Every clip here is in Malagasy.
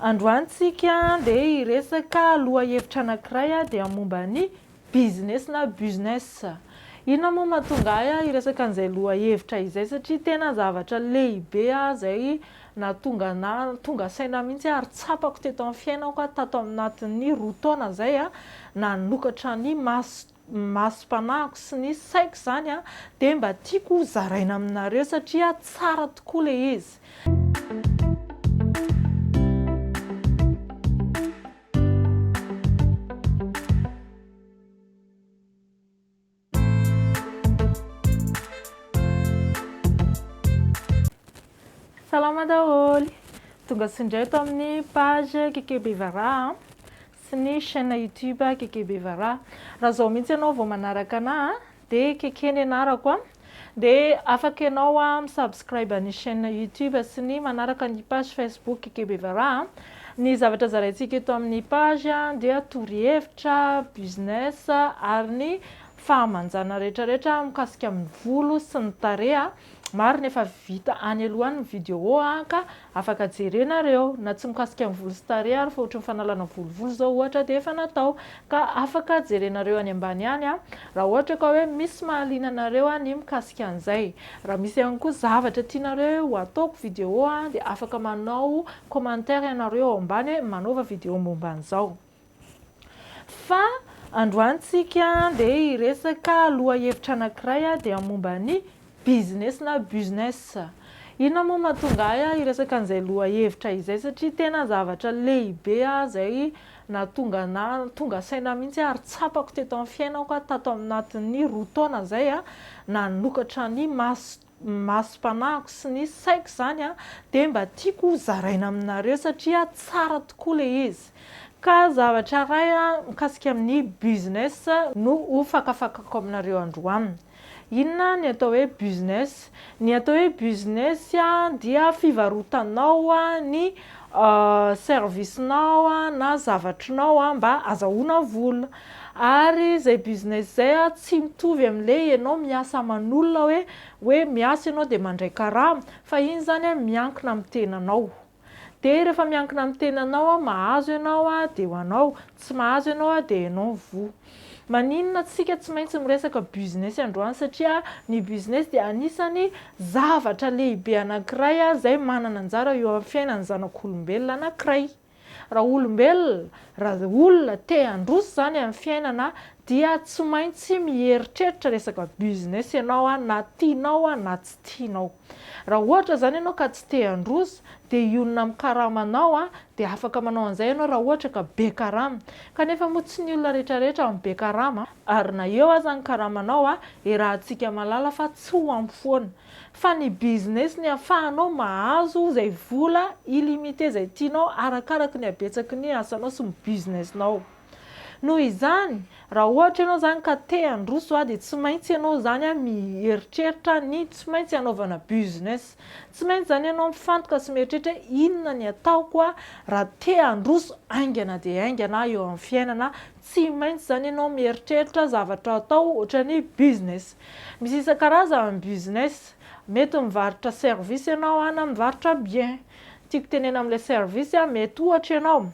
Androany tsika dia hiresaka lohahevitra anankiray dia momba ny business na business. Inona moa mahatonga ahy hiresaka an'izay lohahevitra izay satria tena zavatra lehibe izay nahatonga anah tonga saina mihitsy ary tsapako teto amin'ny fiainako tato anatin'ny roa taona izay nanokatra ny masoko. ny masom-panahiko sy ny saiko izany dia mba tiako ho zaraina aminareo satria tsara tokoa ilay izy. Salama daholo! Tonga soa indray eto amin'ny page Kikeo Bevaraha. Tsy nisy chaine youtube Kekebevara. Raha zao mihitsy ianao vao manaraka anah a, de Keke ny anarako a, de afaka ianao a mi-subscribe ny chaine youtube sy ny manaraka ny page facebook Kekebevara a. Ny zavatra zaraintsika eto amin'ny page a dia torohevitra, business ary ny fahamanjana rehetra rehetra mikasika amin'ny volo sy ny tarehy. Marina efa vita any aloha any ny vidéo a ka afaka jerenareo na tsy mikasika ny volo sy tarehy ary fa ohatry ny fanalana volovolo zao ohatra dia efa natao ka afaka jerenareo any ambany any a raha ohatra ka hoe misy mahaliana anareo ny mikasika an'izay. Raha misy ihany koa zavatra tianareo ho ataoko vidéo dia afaka manao commentaire ianareo ao ambany hoe manaova vidéo momba an'izao. Fa androany tsika dia hiresaka lohahevitra anankiray dia momba ny business na business. Inona moa mahatonga ahy hiresaka an'izay lohahevitra izay satria tena zavatra lehibe izay nahatonga ahy tonga saina mihitsy ary tsapako teto amin'ny fiainako tato anatin'ny roa taona izay nanokatra ny masoko. ny masom-panahiko sy ny saiko izany dia mba tiako ho zaraina aminareo satria tsara tokoa ilay izy. Ka zavatra iray mikasika amin'ny business no ho fakafakako aminareo androany. Inona ny atao hoe business? Ny atao hoe business dia fivarotanao ny service-nao na zavatrinao mba azahoana vola. Ary izay business izay an, tsy mitovy amin'ilay ianao miasa aman'olona hoe hoe miasa ianao dia mandray karama, fa iny izany an, miankina amin'ny tenanao. Dia rehefa miankina amin'ny tenanao an, mahazo ianao an, dia ho anao, tsy mahazo ianao an, dia ianao no voa. Maninona isika tsy maintsy miresaka business androany satria ny business dia anisan'ny zavatra lehibe anankiray izay manana anjara eo amin'ny fiainan'ny zanak'olombelona anankiray. Raha olombelona, raha olona te handroso izany amin'ny fiainana dia tsy maintsy mieritreritra resaka business ianao na tianao na tsy tianao. Raha ohatra izany ianao ka tsy te handroso dia hionona amin'ny karamanao dia afaka manao an'izay ianao raha ohatra ka be karama. Kanefa moa tsy ny olona rehetra rehetra no be karama. Ary na eo aza ny karamanao, iarahantsika mahalala fa tsy ho ampy foana. Fa ny business ny afahanao mahazo izay vola illimité izay tianao arakaraky ny habetsaky ny asanao sy ny business nao. Noho izany, raha ohatra ianao izany ka te handroso aho dia tsy maintsy ianao izany mieritreritra ny tsy maintsy hanaovana business. Tsy maintsy izany ianao mifantoka sy mieritreritra hoe inona ny ataoko raha te handroso haingana dia haingana aho eo amin'ny fiainana Tsy maintsy zany ianao mieritreritra zavatra atao ohatrany business. Misy isan-karazany ny business. Mety mivarotra service ianao na mivarotra bien. Tiako tenena amin'ilay service, mety ohatra ianao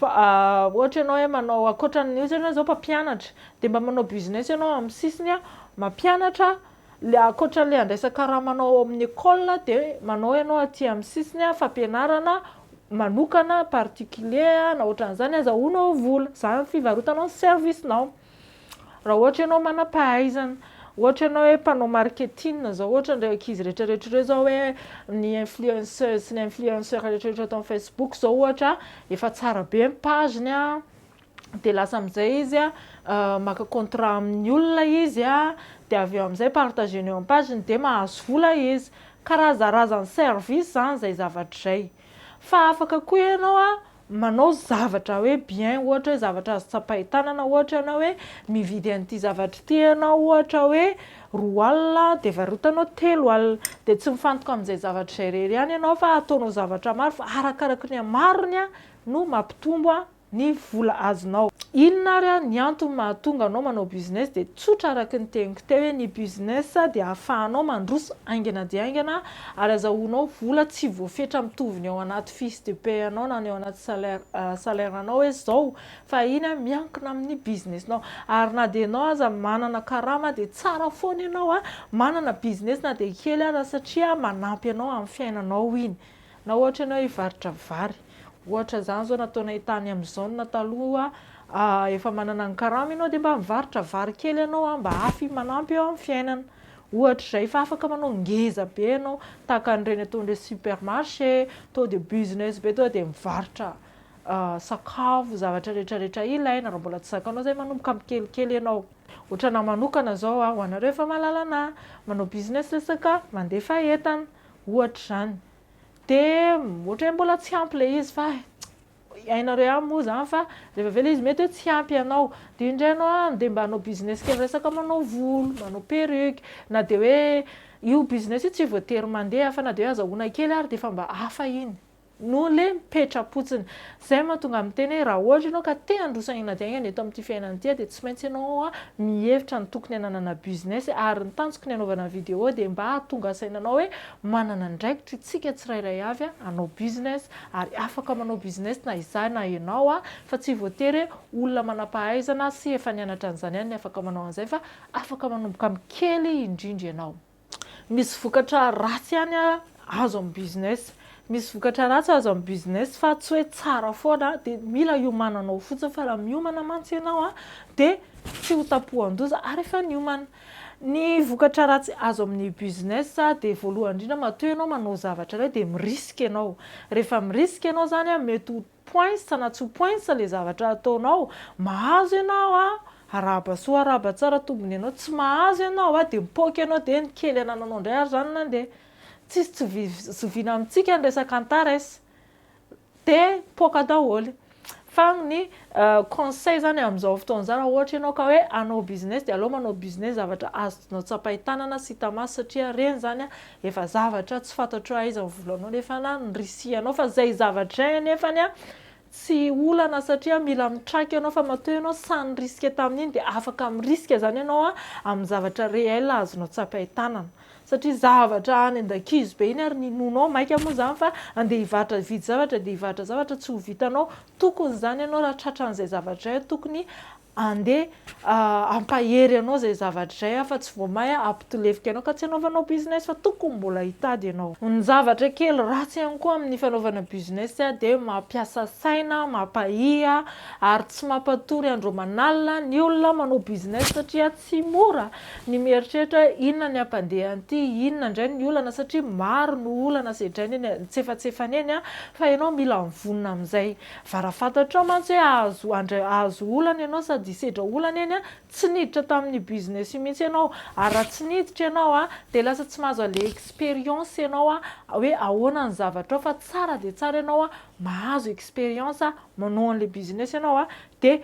ohatra ianao hoe manao ankoatran'ny ohatra ianao zao mpampianatra dia mba manao business ianao amin'ny sisiny mampianatra Ilay ankoatra ilay handraisana karamanao ao amin'ny école dia manao ianao aty amin'ny sisiny fampianarana manokana particulier na ohatran'izany azahoanao vola, izany ny fivarotanao ny service nao. Raha ohatra ianao manam-pahaizana, ohatra ianao hoe mpanao marketing izao ohatra ireo ankizy rehetrarehetra ireo izao hoe ny influenceuse sy ny influenceur rehetrarehetra ato amin'ny facebook izao ohatra efa tsara be ny page-ny an, dia lasa amin'izay izy maka contrat amin'ny olona izy dia avy eo amin'izay partager-ny eo amin'ny page-ny dia mahazo vola izy, karazarazan'ny service izany izay zavatra izay, fa afaka koa ianao manao zavatra hoe bien ohatra hoe zavatra azo tsapain-tanana ohatra ianao hoe mividy an'ity zavatra ity ianao ohatra hoe roa alina dia varotanao telo alina, dia tsy mifantoka amin'izay zavatra izay irery ihany ianao fa ataonao zavatra maro fa arakaraky ny hamarony no mampitombo ny vola azonao. Inona ary ny antony mahatonga anao manao business dia tsotra araka ny teniko teo hoe ny business dia ahafahanao mandroso haingana dia haingana ary azahoanao vola tsy voafetra mitovy ny ao anaty fiche de paie anao na ny ao anaty salaire salaire anao hoe izao fa iny miankina amin'ny business nao ary na dia ianao aza manana karama dia tsara foana ianao manana business na dia kely aza satria manampy anao amin'ny fiainanao iny. Na ohatra ianao hivarotra vary, ohatra izany izao nataonay tany amin'ny zone na taloha, efa manana ny karama ianao dia mba mivarotra vary kely ianao mba hafy manampy eo amin'ny fiainana. Ohatra izay, efa afaka manao ngeza be ianao, tahaka an'ireny ataon'ireny supermarché, tonga dia business be, tonga dia mivarotra sakafo, zavatra rehetra rehetra ilaina, raha mbola tsy zakanao izay manomboka amin'ny kelikely ianao. Ohatra anah manokana izao, ho anareo efa mahalala anah, manao business resaka mandefa entana, ohatra izany dia ohatra hoe mbola tsy ampy ilay izy fa hainareo ihany moa izany fa rehefa avy eo ilay izy mety hoe tsy ampy anao dia indray ianao any dia mba hanao business kely resaka manao volo, manao perruque na dia hoe io business io tsy voatery mandeha fa na dia hoe azahoana kely ary dia efa mba hafa iny. no le mipetra-potsiny. Zay mahatonga ahy miteny hoe raha ohatra ianao ka te handroso haingana dia haingana eto amin'ity fiainana ity dia tsy maintsy ianao mihevitra ny tokony hananana business ary ny tanjoko ny hanaovana ny vidéo dia mba hahatonga saina anao hoe manana andraikitra isika tsirairay avy hanao business ary afaka manao business na izaho na ianao fa tsy voatery hoe olona manam-pahaizana sy efa nianatra an'izany ihany ny afaka manao an'izay fa afaka manomboka amin'ny kely indrindra ianao. Misy vokatra ratsy ihany azo amin'ny business. Misy vokatra ratsy azo amin'ny business fa tsy hoe tsara foana. Dia mila hiomananao fotsiny fa raha miomana mantsy ianao dia tsy ho tampohan-doza ary efa niomana. Ny vokatra ratsy azo amin'ny business dia voalohany indrindra matoa ianao manao zavatra iray dia mi-risque ianao. Rehefa mi-risque ianao izany mety ho poinsa na tsy poinsa le zavatra ataonao, mahazo ianao a, arahaba soa arahaba tsara tombony ianao, tsy mahazo ianao a, dia mipoaka ianao dia ny kely anananao indray ary izany nandeha. Tsisy tsy zoviana amintsika ny resaka antares. Dia mipoaka daholo. Fa ny conseil izany amin'izao fotoana izao raha ohatra ianao ka hoe hanao business dia aleo manao business zavatra azonao tsapain-tanana sy hita maso satria ireny izany Efa zavatra tsy fantatro aiza ny volanao nefa na ny risianao fa zay zavatra zay anefany an tsy olana satria mila mitraika ianao fa matoa ianao sahy nirisika tamin'iny dia afaka mirisika zany ianao an amin'ny zavatra réel azonao tsapain-tanana satria zavatra any an-dakizo be iny ary ny nono ao maika moa zany fa andeha hivarotra hividy zavatra andeha hivarotra zavatra tsy ho vitanao tokony zany ianao raha tratran'izay zavatra zay tokony Andeha hampahery anao izay zavatra izay aho fa tsy vao may hampitolefika anao ka tsy hanaovanao business fa tokony mbola hitady ianao. Ny zavatra kely ratsy ihany koa amin'ny fanaovana business dia mampiasa saina, mampahia ary tsy mampatory andro aman'alina ny olona manao business satria tsy mora ny mieritreritra inona ny hampandeha an'ity, inona indray ny olana satria maro ny olana sedrainy eny an-tsefatsefany eny fa ianao mila mivonona amin'izay. Fa raha fantatrao mantsy hoe hahazo handray hahazo olana ianao sady hisedra olana eny an, tsy niditra tamin'io business io mihitsy ianao ary raha tsy niditra ianao an, dia lasa tsy mahazo an'ilay expérience ianao an, hoe ahoana ny zavatrao fa tsara dia tsara ianao an, mahazo expérience manao an'ilay business ianao an, dia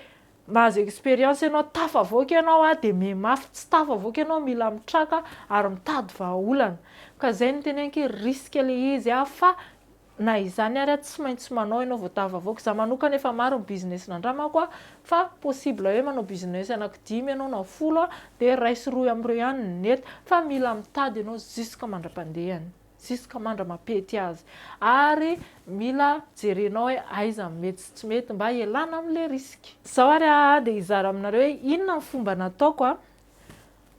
mahazo expérience ianao tafavoaka ianao an, dia mihemafy tsy tafavoaka ianao mila mitraka ary mitady vahaolana, ka izay no teneniko hoe risque ilay izy an, fa Na izany ary tsy maintsy manao ianao vao tafavoaka. Za manokana efa maro ny business nandramako a, fa possible hoe manao business anaky dimy ianao na folo a, dia iray sy roy amin'ireo ihany no nety. Fa mila mitady ianao jusque mandra-pandehany, jusque mandra-mampety azy. Ary mila jerenao hoe aiza no mety sy tsy mety mba hialana amin'ilay risque. Izao ary aho dia hizara aminareo hoe inona ny fomba nataoko a.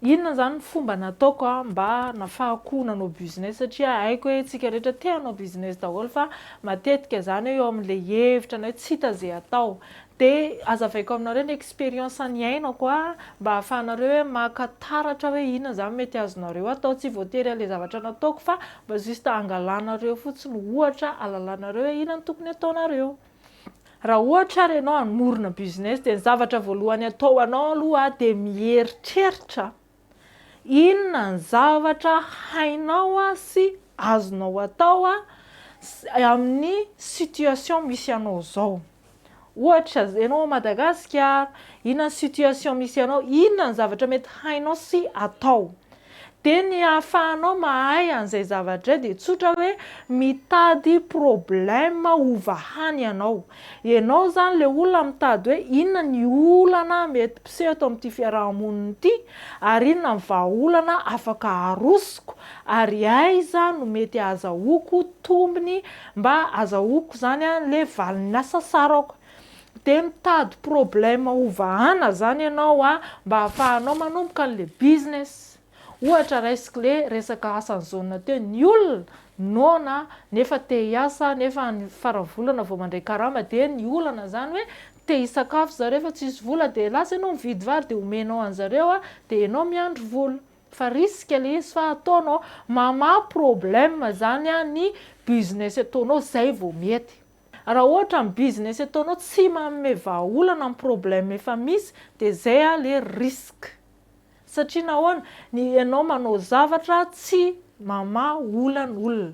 Inona izany ny fomba nataoko mba nafahako nanao business satria haiko hoe tsika rehetra te hanao business daholo fa matetika izany hoe eo amin'ilay hevitra na hoe tsy hita izay atao dia azavaiko aminareo ny experience niainako mba ahafahanareo hoe maka taratra hoe inona izany mety azonareo atao tsy voatery an'ilay zavatra nataoko fa mba juste hangalanareo fotsiny ohatra halalanareo hoe inona no tokony ataonareo. Raha ohatra ary ianao hamorona business dia ny zavatra voalohany atao anao aloha dia mieritreritra inona ny zavatra hainao sy azonao atao amin'ny situation misy anao izao. Ohatra, ianao ao Madagasikara, inona ny situation misy anao, inona ny zavatra mety hainao sy atao. Dia ny ahafahanao mahay an'izay zavatra izay dia tsotra hoe mitady problème ho vahany ianao. Ianao izany ilay olona mitady hoe inona ny olana mety mpiseho eto amin'ity fiaraha-monina ity ary inona ny vahaolana afaka arosoko ary aiza no mety ahazahoako tombony mba azahoako izany ilay valin'asa sarako. Dia mitady problème hovahana zany ianao a, mba afahanao manomboka anle business. Ohatra raisiko le resaka asan'i Jaona teo, ny olona noana nefa te hiasa nefa any faran'ny volana vao mandray karama dia ny olana zany hoe te hisakafo zareo fa tsisy vola dia lasa ianao mividy vary dia omenao anzareo a, dia ianao miandry vola. Fa risque le izy fa ataonao, mamaha problème zany a ny business ataonao zay vao mety. Raha ohatra ny business ataonao tsy manome vahaolana ny problème efa misy dia zay le risque. Satria nahoana? Ny ianao manao zavatra tsy mamaha olana olona.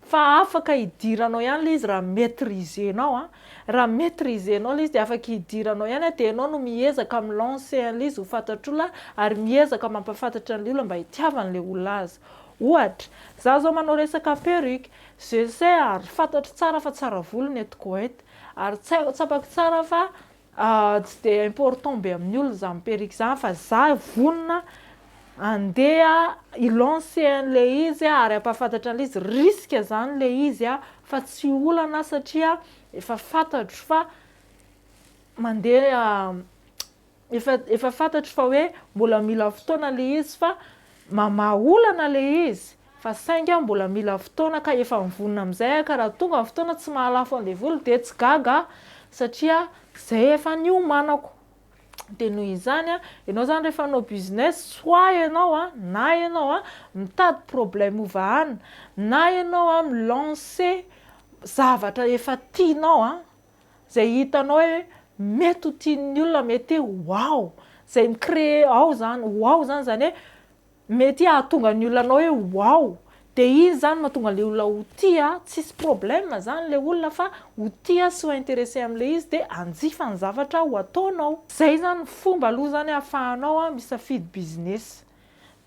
Fa afaka hidiranao ihany le izy raha maitriser-nao a. Raha maitriser-nao le izy dia afaka hidiranao ihany a, dia ianao no miezaka mi lancer an'le izy ho fantatr'olona ary miezaka mampahafantatra an'le olona mba hitiavany le ho laza. Ohatra, za zao manao resaka perruque, Je le sais ary fantatro tsara fa tsara volo ny eto Koweït ary tsapako tsara fa tsy dia important be amin'ny olona izany perruque izany fa za vonona handeha hi lancer an'ilay izy ary hampahafantatra an'ilay izy risque izany ilay izy fa tsy olana satria efa fantatro fa mandeha Efa efa fantatro fa hoe mbola mila fotoana le izy fa mamaha olana le izy fa sainga mbola mila fotoana ka efa mivonona amizay aho ka raha tonga ny fotoana tsy mahalafo an devoly dia tsy gaga aho satria zay efa niomanako dia noho izany an ianao zany rehefa hanao business soit ianao an na ianao an mitady problème ho vahana na ianao an mi lancer zavatra efa tianao an Zay hitanao hoe mety ho tian'ny olona mety hoe wow, zay mi créer ao zany wow zany zany hoe mety hahatonga ny olona anao hoe wow, de iny zany mahatonga le olona ho tia, tsisy problème zany le olona fa ho tia sy ho intéressé amle izy de hanjifa ny zavatra ho ataonao. Zay zany ny fomba aloha zany ahafahanao misafidy business,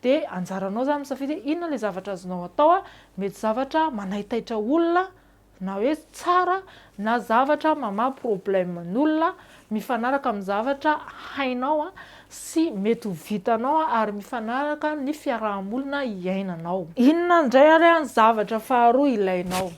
de anjaranao zany misafidy hoe inona le zavatra azonao atao, mety zavatra manaitaitra olona, Na hoe tsara na zavatra mamaha problème n'olona mifanaraka amin'ny zavatra hainao sy mety ho vitanao ary mifanaraka ny fiaraha-monina iainanao. Inona indray ary ny zavatra faharoa ilainao?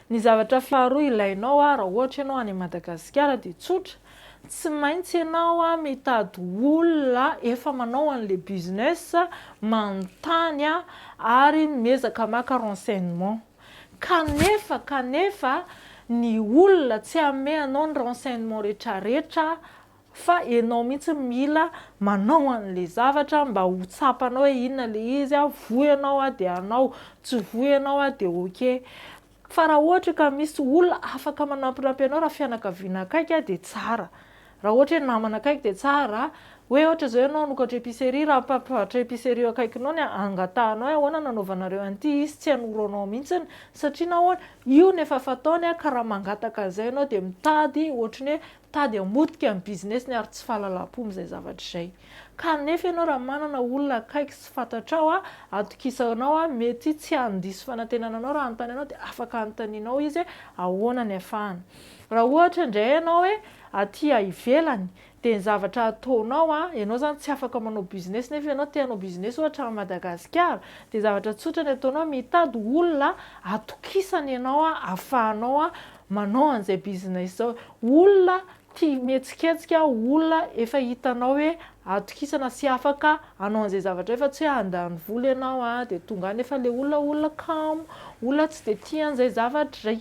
Ny zavatra faharoa ilainao raha ohatra ianao any Madagasikara dia tsotra, tsy maintsy ianao mitady olona efa manao an'ilay business, manontany ary miezaka maka renseignement. Kanefa, kanefa, ny olona tsy hanome anao ny renseignement retraretra fa enao mihitsy no mila manao anle zavatra mba ho tsapanao hoe inona le izy, voa enao dia hanao, tsy voa enao dia ok. Fa raha ohatra ka misy olona afaka manampinampy anao raha fianakaviana akaiky dia tsara. Raha ohatra hoe namana akaiky dia tsara hoe ohatra izao ianao hanokatra epicerie raha mpampivarotra epicerie eo akaikinao ny angatahanao hoe ahoana no hanaovanareo an'ity izy tsy hanoro anao mihitsiny satria nahoana io no efa fataony ka raha mangataka an'izay ianao dia mitady ohatry ny hoe mitady hamotika ny business-ny ary tsy fahalalam-po amin'izay zavatra izay ka nefa ianao raha manana olona akaiky sy fantatrao atokisanao mety tsy handiso fanantenana anao raha hanontany anao dia afaka anontanianao izy hoe ahoana ny hafahana Raha ohatra indray ianao hoe aty ivelany dia ny zavatra ataonao an, ianao izany tsy afaka manao business nefa ianao te hanao business ohatra any Madagasikara dia zavatra tsotra ny ataonao mitady olona atokisany ianao afahanao manao an'izay business izao, olona tia mihetsiketsika, olona efa hitanao hoe atokisana sy afaka hanao an'izay zavatra izay fa tsy hoe handany vola ianao dia tonga any nefa ilay olona olona kamo, olona tsy dia tia an'izay zavatra izay.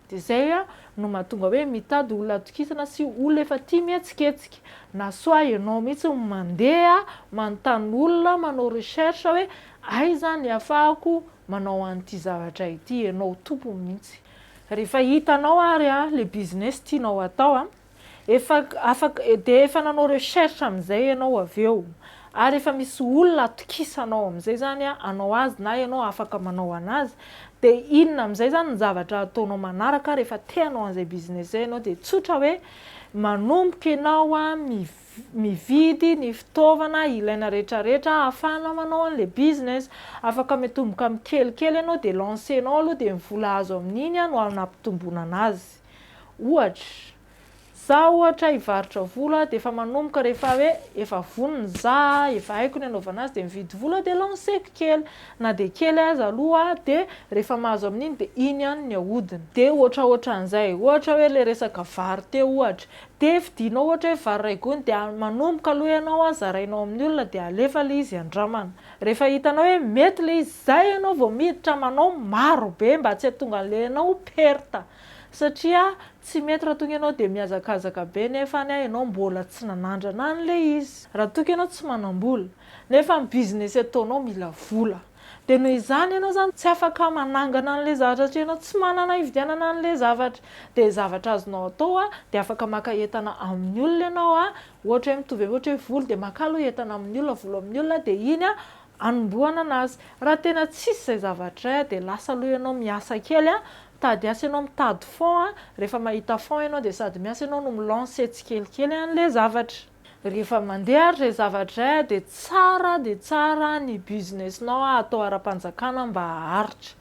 Dia izay no mahatonga hoe mitady olona hatokisana sy olona efa tia mihetsiketsika. Na soit ianao mihitsy no mandeha manontany olona, manao recherche hoe aiza ny ahafahako manao an'ity zavatra ity, ianao tompony mihitsy. Rehefa hitanao ary ilay business tianao hatao. Efa afaka, dia efa nanao recherche amin'izay ianao avy eo, ary efa misy olona atokisanao amin'izay izany hanao azy na ianao afaka manao an'azy, dia inona amin'izay izany ny zavatra ataonao manaraka rehefa te hanao an'izay business izay ianao? Dia tsotra hoe, manomboka ianao mividy ny fitaovana ilaina rehetrarehetra hahafahana manao an'ilay business. Afaka miatomboka amin'ny kelikely ianao dia lancer-nao aloha dia ny vola azo amin'iny no hampitomboina an'azy. Ohatra, za ohatra hivarotra vola dia efa manomboka rehefa hoe efa vonona za, efa haiko ny anaovana azy dia mividy vola dia lanceko kely, na dia kely aza aloha dia rehefa mahazo amin'iny dia iny ihany ny ahodina. Dia ohatraohatran'izay. Ohatra hoe ilay resaka vary teo ohatra, dia vidianao ohatra hoe vary iray gony dia manomboka aloha ianao an, zarainao amin'ny olona dia alefa ilay izy andramana. Rehefa hitanao hoe mety ilay izy, izay ianao vao miditra manao marobe mba tsy hahatonga an'ilay anao ho perte. Satria tsy mety raha toa ka ianao dia mihazakazaka be nefa anie ianao mbola tsy nanandrana an'ilay izy. Raha toa ka ianao tsy manam-bola nefa ny business ataonao mila vola dia noho izany ianao izany tsy afaka manangana an'ilay zavatra satria ianao tsy manana hividianana an'ilay zavatra. Dia zavatra azonao atao dia afaka maka entana amin'ny olona ianao ohatra hoe mitovy amin'ny ohatra hoe vola dia maka aloha entana amin'ny olona, vola amin'ny olona dia iny anombohana an'azy. Raha tena tsisy izay zavatra izay dia lasa aloha ianao miasa kely Tady asa ianao mitady fond a, rehefa mahita fond ianao dia sady miasa ianao no mi-lancer tsikelikely an'ilay zavatra. Rehefa mandeha ary izay zavatra izay a dia tsara dia tsara ny business-nao a atao ara-panjakana mba haharitra.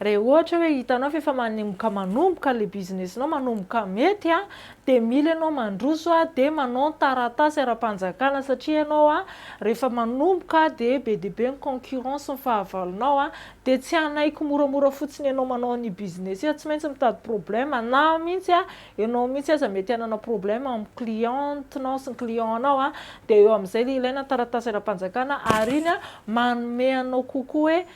Raha ohatra hoe hitanao fa efa manomboka manomboka ilay business-nao manomboka mety a dia mila ianao mandroso a dia manao ny taratasy ara-panjakana satria ianao a rehefa manomboka dia be dia be ny concurrence ny fahavalonao a Dia tsy hanaiky moramora fotsiny ianao manao ny business io, tsy maintsy mitady problème, na mihitsy an, ianao mihitsy aza mety hanana problème amin'ny cliente-nao sy ny client-nao an, dia eo amin'izay ilay ilaina ny taratasy ara-panjakana ary iny an, manome anao kokoa hoe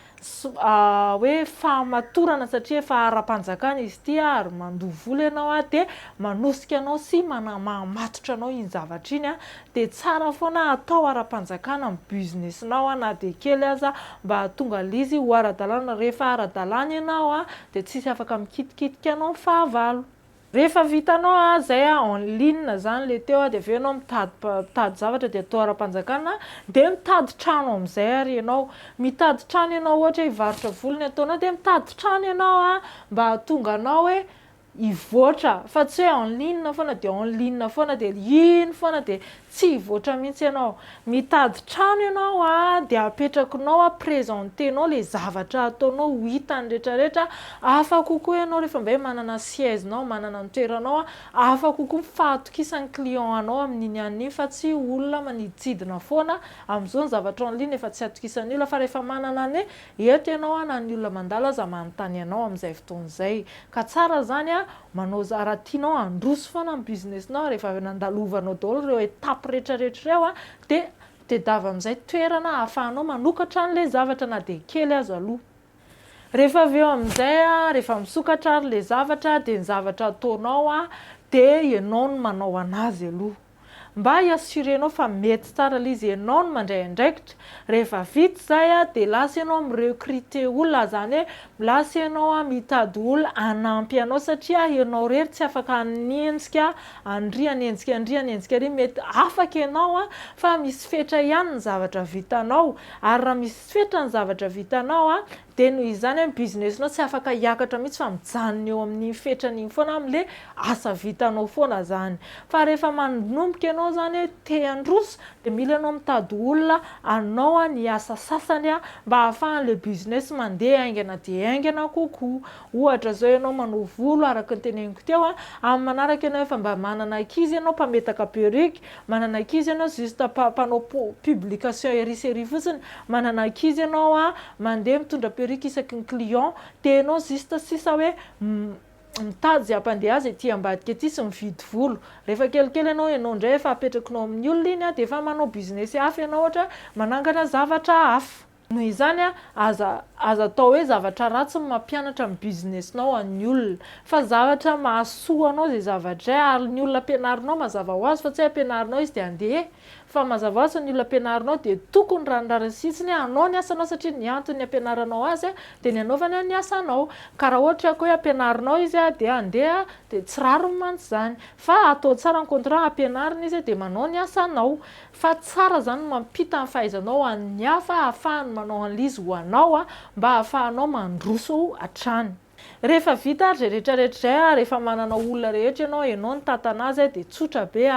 hoe fahamatorana satria efa ara-panjakana izy ity an, ary mandoa vola ianao an, dia manosika anao sy manamamatotra anao iny zavatra iny an, dia tsara foana atao ara-panjakana ny business nao na dia kely aza mba hahatonga lzy ho ara-dalàna, rehefa ara-dalàna ianao dia tsisy afaka mikitikitika anao ny fahavalo. Rehefa vitanao zay en ligne zany le teo dia avy eo ianao mitady mitady zavatra dia atao ara-panjakana dia mitady trano amzay ary ianao, mitady trano ianao ohatra hoe hivarotra volo ny ataonao dia mitady trano ianao mba hahatonga anao hoe hivoatra fa tsy hoe en ligne foana dia en ligne foana dia iny foana dia tsy hivoatra mihitsy ianao. Mitady trano ianao dia apetrakinao, presenter-nao ilay zavatra ataonao ho hitan'ny rehetra rehetra, hafa kokoa ianao rehefa indray manana siège-nao, manana ny toeranao, hafa kokoa ny fahatokisan'ny client anao amin'iny ihany iny fa tsy olona maniditsidina foana, amin'izao ny zavatra en ligne efa tsy atokisan'ny olona fa rehefa manana ny hoe Eto ianao an na ny olona mandalo aza manontany anao amin'izay fotoana izay. Ka tsara izany an, manao izay, raha tianao handroso foana ny business-nao, rehefa avy nandalovanao daholo ireo étapes rehetrarehetra ireo an, dia tedava amin'izay toerana ahafahanao manokatra an'ilay zavatra na dia kely aza aloha. Rehefa avy eo amin'izay an, rehefa misokatra ary ilay zavatra dia ny zavatra ataonao an, dia ianao no manao an'azy aloha. Mba i assurenao fa mety tsara ilay izy enao no mandray andraikitra, rehefa vita izay dia lasa enao mi recruter olona izany hoe lasa enao mitady olona hanampy anao satria enao irery tsy afaka hanenjika an'ry hanenjika an'ry hanenjika an'ry, mety afaka enao fa misy fetra ihany ny zavatra vitanao ary raha misy fetra ny zavatra vitanao Dia noho izany ny business-nao tsy afaka hiakatra mihitsy fa mijanona eo amin'iny fetrany iny foana amin'ilay asa vitanao foana izany. Fa rehefa manomboka ianao izany hoe te handroso dia mila ianao mitady olona hanao ny asa sasany mba hahafahan'ilay business mandeha haingana dia haingana kokoa. Ohatra izao ianao manao volo araka ny teneniko teo, amin'ny manaraka ianao efa mba manana ankizy ianao mpametaka perruque, Manana ankizy ianao juste pa mpanao pu publication ery sy ery fotsiny, manana ankizy ianao a, mandeha mitondra perruque isaky ny client, dia ianao juste sisa hoe mitady izay hampandeha azy ety ambadika ety sy mividy volo. Rehefa kelikely ianao, ianao indray efa apetrakinao amin'ny olona iny a, dia efa manao business hafa ianao ohatra hoe manangana zavatra hafa. Noho izany, aza aza atao hoe zavatra ratsy ny mampianatra ny business-nao an'ny olona. Fa zavatra mahasoa anao izay zavatra izay, ary ny olona ampianarinao mazava ho azy fa tsy hoe ampianarinao izy dia andeha e! Fa mazava ho azy ny olona ampianarinao dia tokony raha ny rariny sitsiny hoe hanao ny asanao satria ny antony ampianaranao azy dia ny hanaovany ny asanao. Ka raha ohatra ka hoe ampianarinao izy dia andeha dia tsy rariny mantsy izany. Fa atao tsara ny contrat ampianarina izy dia manao ny asanao. Fa tsara zany mampita ny fahaizanao an'ny hafa ahafahany manao anlizy ho anao mba ahafahanao mandroso hatrany. Rehefa vita ary zay rehetra rehetra zay ary efa manana olona rehetra ianao enao nitantana azy de tsotra be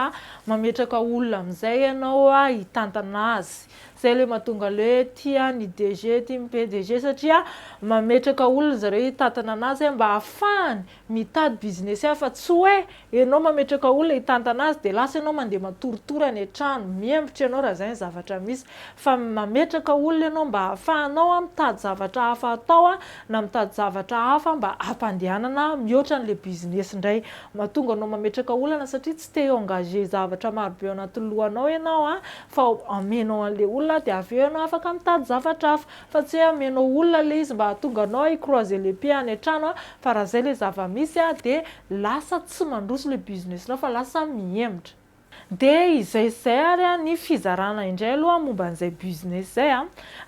mametraka olona amizay ianao hitantana azy. Zay le mahatonga le hoe tia ny DG tia ny PDG satria mametraka olona zareo hitantana anazy mba ahafahany Mitady business hafa tsy hoe enao mametraka olona hitantana azy dia lasa enao mandeha matoritory any an-trano, miembotra enao raha izay ny zavatra misy. Fa mametraka olona enao mba hahafahanao an mitady zavatra hafa atao na mitady zavatra hafa mba hampandehanana mihoatra an'ilay business indray. Mahatonga anao mametraka olana satria tsy te hi-engager zavatra marobe ao anatin'ny lohanao enao fa omenao an'ilay olona dia avy eo enao afaka mitady zavatra hafa. Fa tsy hoe hameno olona le izy mba hahatonga anao hi croiser les pieds any an-trano a! Fa raha zay le zava-misy a! De lasa tsy mandroso le business-nao fa lasa mihemotra. De izay sy izay ary a! Ny fizarana indray aloha momba an'izay business izay a!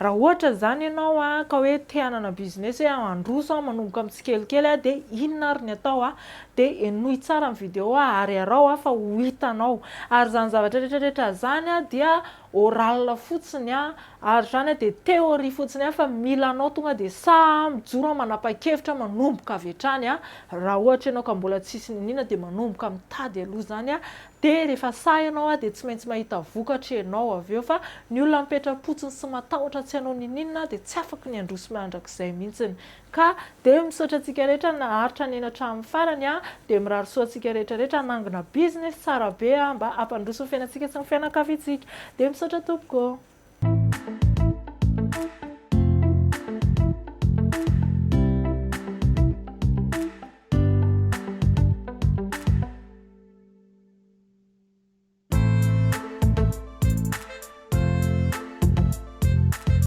Raha ohatra izany ianao a! Ka hoe te hanana business hoe handroso aho manomboka amin'ny tsikelikely a! De inona ary ny atao a! De henoy tsara ny video ary araho a! Fa ho hitanao. Ary izany zavatra rehetra rehetra izany a! Dia oral fotsiny a, ary zany dia théorie fotsiny a, fa mila anao tonga dia sahy a, mijoro a, manapa-kevitra a, manomboka avy hatrany a, raha ohatra ianao ka mbola tsisy niniana dia manomboka mitady aloha zany a, dia rehefa sahy ianao a, dia tsy maintsy mahita vokatra ianao avy eo, fa ny olona mipetra-potsiny sy matahotra tsy hanao niniana dia tsy afaka ny handroso mandrakizay mihitsiny, Ka dia misaotra antsika rehetra naharitra nihaino hatramin'ny farany an! Dia mirary soa antsika rehetra rehetra hanangona business tsara be an! Mba hampandroso ny fiainantsika sy ny fianakaviantsika! Dia misaotra tompoko ô!